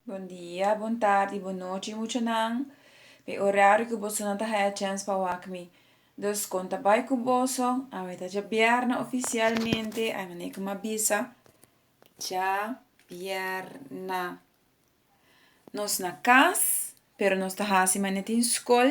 Bon dia, bon tardi, bon nochi muchanan. P'e orario cu boso no ta haya chens pa wak mi. Dus con ta bay cu boso? Awe ta dja bierna oficialmente, ay manera cu m'a bisa. Dja bierna. Nos na cas, pero nos ta haci manera tin scol,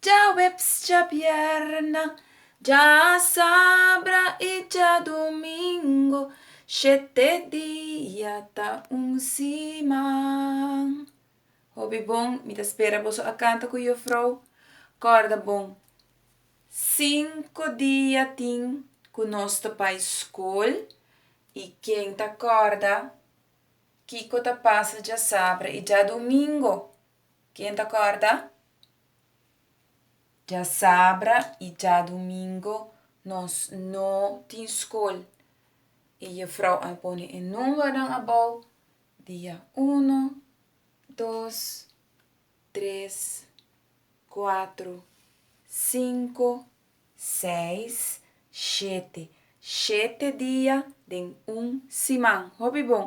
Dja Webs, dja Bierna, dja Sabra i dja Domingo, shete dia ta un siman. Hopi bon, mi ta spera boso a kanta ku yo frou. Kòrda bon, sinku dia tin ku nos ta bai skol i ken ta kòrda kiko ta pasa dja Sabra i dja Domingo? Ken ta kòrda? Djasabra i djadumingu nos no tin skol. E jefrou a pone e nùmbernan abou, dia unu, dos, tres, kuatru, sinku, seis, shete. Shete dia den un siman. Hopi bon!